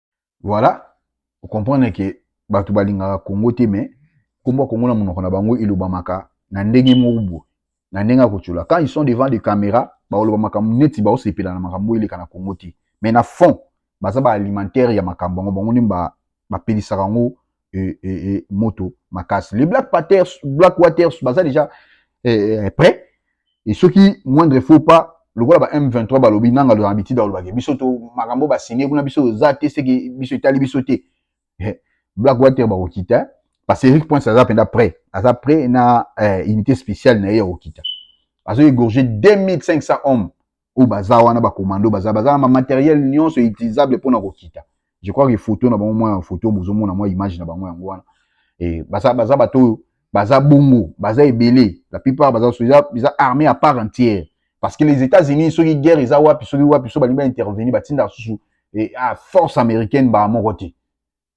Voilà, o comprendre que bato balingaka Congo te mais kombo Congo na monoko na bango elobamaka na ndenge moko boye, na ndenge ya kotyola. Quand ils sont devant des caméras, bakoloba makambo neti baosepela na makambo eleka na Congo te, mais na fond baza ba alimentaire ya makambo yango, bango nde bapelisaka yango et, et, et moto makasi les black paters black waters baza déjà eh, eh, prêt et soki moindre faut pas lokola ba M23 balobi nanga loyana bitida balobaki biso to makambo basine kuna biso oza te seke biso etali biso te eh, black water bakokita parce que Eric Prince aza mpenza prêt aza prêt na eh, unité spéciale na ye ya kokita azo égorger 2500 hommes oyo baza wana ba commando baza baza na ba matériel nyonso utilisable pona kokita je crois que photo na bango mwa photo bozomona mwa image na bango yango wana e, baza baza bato oyo baza bongo baza ebele la plupart baza eza, eza armée à part entière parce que les États-Unis soki guerre eza wapi soki wapi so balingi ba intervenir batinda susu e, a force américaine ba moko te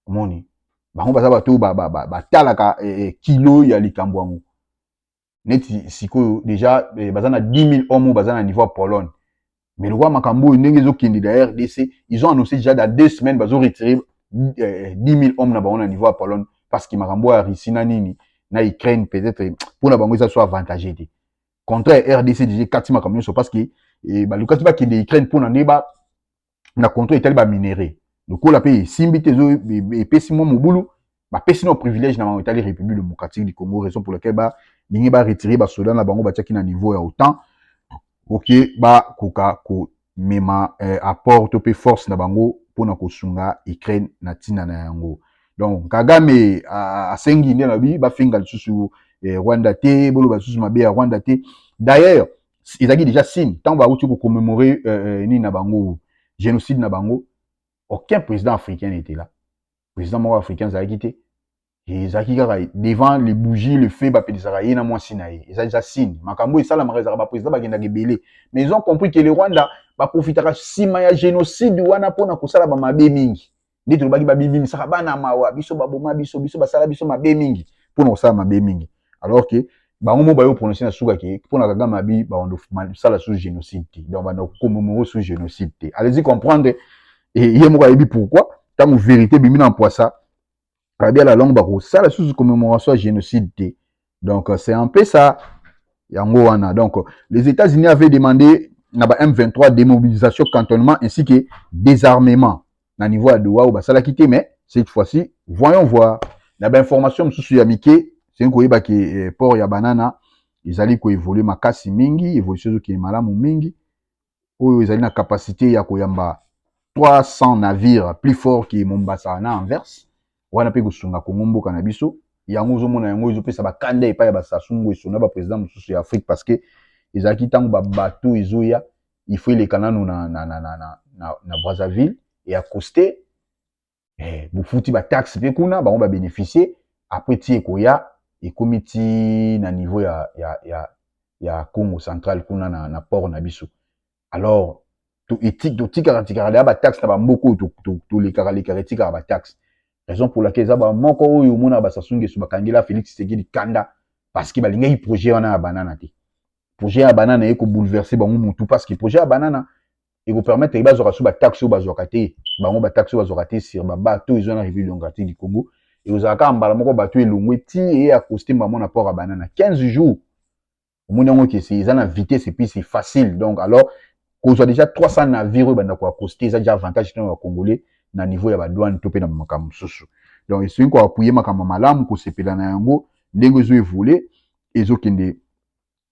omoni bango baza bato oyo batalaka ba, ba, ba, e, kilo ya likambo yango neti sikoyo deja eh, baza na 10000 homme baza na niveau ya pologne mais lokola makambo oyo ndenge ezokende na rdc ils ont annoncé déjà dans deux semaines bazo retire 10000 homme na bango na niveau ya pologne parce que makambo ya russie na nini na ukraine peut-être mpo na bango eza so avantage te contraire rdc deja ekati makambo nyonso parce que eh, balukaki bakende ukraine mpo na nde ba na contrôle etali ba minerais lokola pe esimbi te ezo epesi mwa mobulu bapesi na privilège na bango etali république démocratique du congo raison pour laquelle balingi baretire basoda na bango batiaki na niveau ya otan oke bakoka komema eh, apport to mpe force na bango mpo na kosunga ukraine na ntina na yango donc kagame asengi nde alobi bafinga lisusu eh, rwanda te boloba lisusu mabe ya rwanda te d'ailleurs ezalaki déjà signe ntango bauti kocommemore euh, euh, nini na bango génocide na bango aucun président africain n'était là président moko africain azalaki te ezalaki kaka devant les bougies le feu bapelisaka ye na mwasi na ye eza déjà signe makambo oyo esalamaka ezalaka baprésident bakendaka ebele mais ils ont compris que le rwanda baprofitaka nsima ya génocide wana mpona kosala bamabe mingi nde tolobaki babibimisaka bana mawa biso baboma biso biso basala biso mabe mingi mpo na kosala mabe mingi alors que bango moko bayo prononce na suka ke mpo na kagame abi bakosala sous génocide te donc banda kokomomoko sous génocide te allez-y comprendre ye moko ayebi pourquoi ntango vérité ebimi na mpoisa abi ala longue bakosala susu commémoration ya génocide te donc c'est un peu ça yango wana donc les états-unis avaient demandé na ba m23 démobilisation cantonnement ainsi que désarmement na niveau ya doha oyo basalaki te mais cette fois-ci voyons voir na bainformation mosusu ya mike soki koyeba ke eh, port ya banana ezali koevolue makasi mingi evolution ezokende malamu mingi oyo ezali na capacité ya koyamba 300 navires plus fort que Mombasa na Anvers wana pe kosunga Congo mboka na biso yango ozomona yango ezopesa bakanda epai ya Basasu Nguesso na baprésident mosusu ya Afrique parce que ezalaki ntango babato ezoya il faut eleka nano na, na, na, na, na, na, na Brazzaville e accoste eh, bofuti bataxe mpe kuna bango babénéficie après ti ekoya ekomi ti na niveau ya, ya, ya, ya congo central kuna na, na port na biso alors totikaka tikaka deya bataxe na bamboka oyo tolekaka lekaka etikaka bataxe raison pour laquelle eza bamoko oyo omonaka basasungesu bakangela félix tshisekedi kanda parce que balingaki projet wana ya banana te projet ya banana eye kobouleverse bango mutu parce que projet ya banana ekopermettre ye bazwaka so bataxe oyo bazwaka te bango bataxe oyo bazwaka te sur babato ezwa na république démocratique du congo ekozala kaka mbala moko bato elongwe ti eye acoste mbamo na port ya banana 15 jours omoni yango kese eza na vitesse epuis c'est facile donc alors kozwa déjà 300 navire oyo banda koacoste eza déjà avantage tena ya congolais na niveau ya badouane to mpe na makambo mosusu donc esoki koapuye makambo malamu kosepela na yango ndenge ezo evole ezokende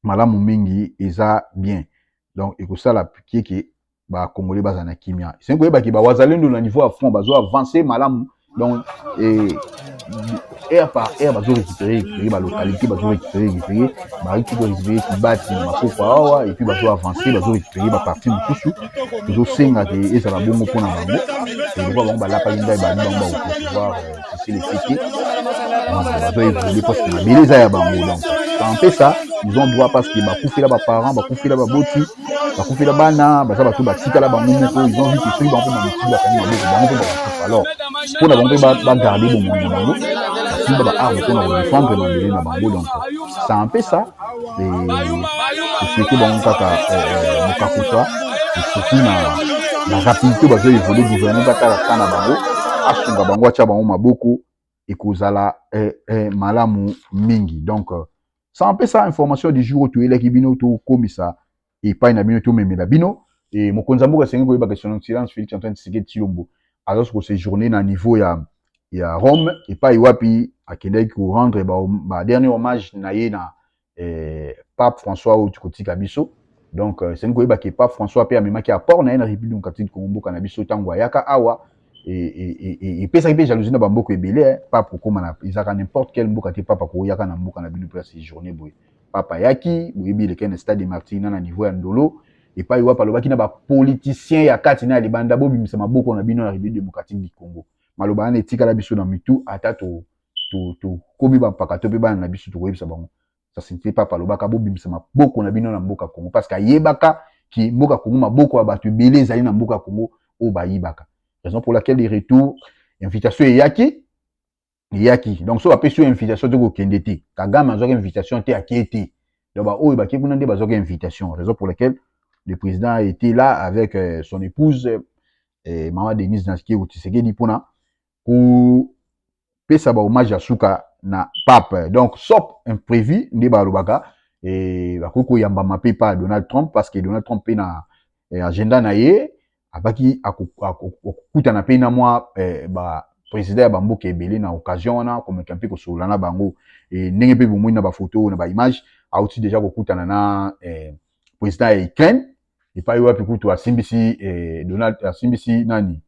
malamu mingi eza bien donc ekosala kieke bakongole bazala na kimia esengi koyebaki bawazalendo na niveau ya front bazo avance malamu donc eh, heure par heure bazo récupérer récupérer ba localité bazo récupérer récupérer bariki ko récupérer kibati na makoko awa et puis bazo avancer bazo récupérer ba partie mosusu ezosenga ke ezala bongo mpo na bango eloko bango balapaki ndai bani bango bakopercevoir Felicite. Bazo évoluer parce que mabele eza ya bango donc bampesa ils ont droit parce que bakufela baparent bakufela baboti bakufela bana baza bato batikala bango moko ils ont vu que soki bango mpe bamosusu bakangi maboko bango mpe bakokufa alors mpo na bango mpe bagarde bomoi na bango basimba baarme mpo na kodefendre mabele na bango donc ça empesa esoki bango kaka mokakuta esoki na na rapidité bazo évolue gouvernement batala ka na bango asunga bango atya bango maboko ekozala eh, eh, malamu mingi donc sans mpesa information du jour oyo toyelaki bino tokomisa epai na bino tomemela bino e, mokonzi ya mboka asengi koyeba que son excellence Felix Antoine Tshisekedi Tshilombo azali ko séjourner na niveau ya ya Rome epai wapi akendaki ko rendre ba, ba dernier hommage na ye na eh, Pape François oyo kotika biso donc euh, esengi koyeba ke Pape François mpe amemaki apport na ye na République démocratique du Congo mboka na biso ntango ayaka awa epesaki mpe jalousie na bamboka ebele eh, pape kokóma na ezalaka n'importe quelle mboka te pape akoyaka na mboka na bino mpe ya séjourner boye Papa ayaki, boyebi elekaki na stade de martyr na na niveau ya ndolo epai wapi alobaki na bapolitisien ya kati na ya libanda bobimisa maboko na bino na République démocratique du Congo. Maloba wana etikala biso na mitu ata to tokomi bampaka to mpe bana na biso tokoyebisa bango sasinte papa alobaka bobimisa maboko na bino na mboka Congo parce que ayebaka ki mboka Congo maboko ya bato ebele ezali na mboka Congo oyo bayibaka raison pour laquelle de retour invitation eyaki eyaki donc soki bapesi yo invitation te kokende te kagame azwaki invitation te akie te donc baoyo bakie kuna nde bazwaki invitation raison pour laquelle le président a été là avec euh, son épouse euh, mama denise naskeu tisekedi mpona kopesa bahommage ya suka na pape donc sop imprévu nde balobaka eh, bakoki koyambama mpe pa donald trump parce que donald trump mpe na eh, agenda na ye abaki akokutana mpe na mwa eh, ba président ya bamboka ebele na occasion wana komeka mpe kosolola na bango e, ndenge mpe bomoni na bafoto na baimage auti deja kokutana na eh, président ya ukraine epai wapi kutu asimbisi eh, donald asimbisi nani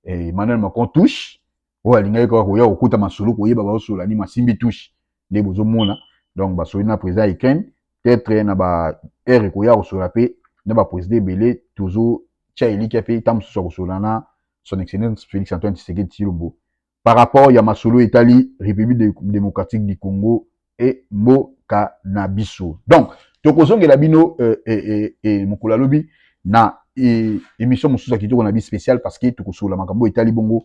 eh, emmanuel macron touche oyo alingaki kaka koya kokuta masolo koyeba baosola nini masimbi touche nde bozomona donc basoli na président ya ukraine peut-être na ba heure ekoya kosola mpe na baprésident ebele tozotya elikya mpe ntango mosusu akosola na son excellence félix antoine tshisekedi tshilombo par rapport ya masolo etali république démocratique du congo e mboka na biso donc tokozongela bino euh, eh, eh, eh, mokolo ya lobi na eh, émission mosusu ya kitoko na bi spécial parce que tokosolola makambo oyo etali bongo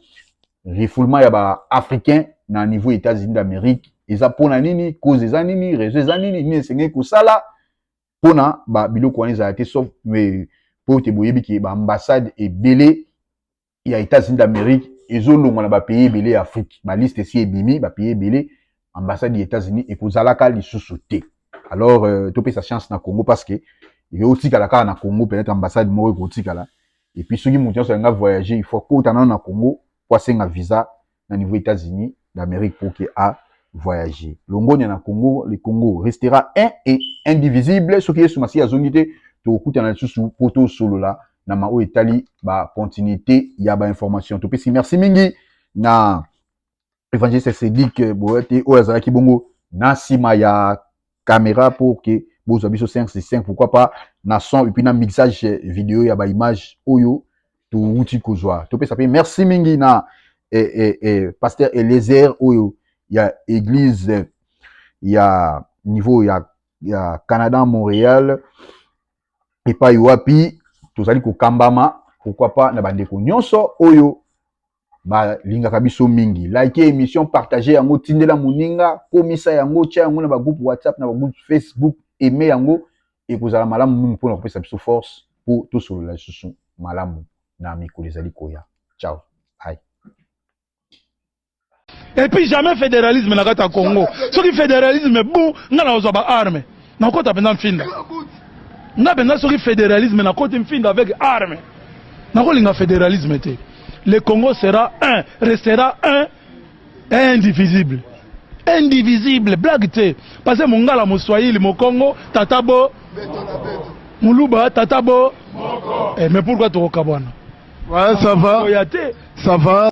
refoulement ya baafricain na niveau ya états-unis d'amérique eza mpo na nini cause eza nini réseau eza nini nini esengeli kosala mpo na babiloko wana ezala te sauf mpo ete boyebi ke baambassade ebele ya Etats-Unis d'Amerique ezolongwa na bapays ebele ya Afrique. Baliste esi ebimi, bapays ebele, ambassade ya Etats-Unis ekozalaka lisusu te. Alors euh, topesa chance na Congo parce que ekotikala kaka na Congo, peut-être ambassade moko ekotikala. Et puis soki moto nyonso alinga voyager, il faut akota nano na Congo mpo asenga visa na niveau Etats-Unis d'Amerique pour que a voyager. Longonya na Congo, le Congo restera un et indivisible soki Yesu Masiya azongi te tokutana lisusu po tosolola na maoyo etali ba continuité ya ba information. Topesi merci mingi na evangeliste Cedric Boyate oyo azalaki bongo na nsima ya camera pour que bozwa biso 5 sur 5 pourquoi pas na son et puis na mixage vidéo ya ba image oyo towuti kozwa topesa mpe merci mingi na eh, eh, eh, pasteur Eliezer oyo ya église ya niveau ya, ya Canada Montréal epai wapi tozali kokambama pourquoi pas na bandeko nyonso oyo balingaka biso mingi like émission partage yango tindela moninga komisa yango tya yango na bagroupe whatsapp na bagroupe facebook eme yango ekozala malamu mingi mpona kopesa biso force mpo tosolola lisusu malamu na mikolo ezali koya ciao ai epuis jamais fédéralisme na kati ya congo soki fédéralisme bon nga na kozwa baarme nakota mpenza mfinda nga mpenza soki fédéralisme nakoti mfinda avec arme nakolinga fédéralisme te le congo sera un restera un indivisible indivisible blague te parce que mongala moswahili mokongo tata bo moluba tata bo eh, mais pourquoi tokokabwana ouais, ça va. ça va